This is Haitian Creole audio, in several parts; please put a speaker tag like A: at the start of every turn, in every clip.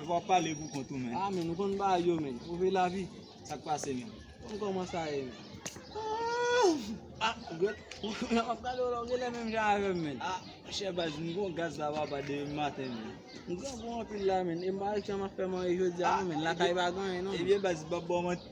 A: Epa wap pale pou
B: kont ou menn. Ah menn ou konn bagay yo
A: menn. Ou vle lavi. Sak pase menn. Ou konn koman sa ye menn. Aah ah ou gèt. Nan map gade w la ou genlè menm jan avèm menn. Ah chè baz
B: m gon gaz la papa depi maten menn. M gran gou
A: anpil la menn. E m pa wè kijan map fè manje jodia non menn. Lakay pa gen anyen non menn. Ebyen baz m pap baw manti.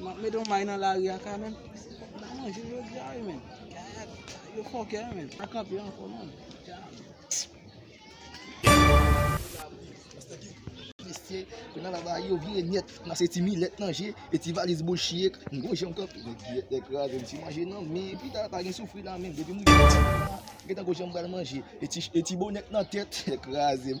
B: Map mete yon may nan
A: lari a ka menm. Nan manje jodi a wi menn. Gad yo fòkè wi menn. Pa kanpe ankò non.
C: Mesye yo nan lavayi yo vire nyèt nan se ti milèt nan je e ti valiz boul chiyek m gon jan m kanpe nèg giyèt nèg kraze m ti manje nan men epi ta pa gen soufri nan men depi m rive nan men m gentan gon jan m pral manje e ti bonèt nan tèt nèg kraze m.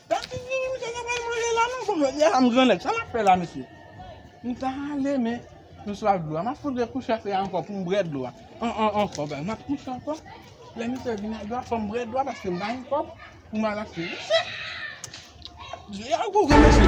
A: Gad ti figi misye ta pral manje la non kòm lòt yè a m gran nèg sa map fè la mesye m ta ale men m swaf dlo a map fout rekouche afe a ankò poum brè dlo a an an ankò bagay map kouche ankò lè misye vin ak dlo a fòm brè dlo a paske m pa gen kòb poum al achte mesye je a gou vre mesye.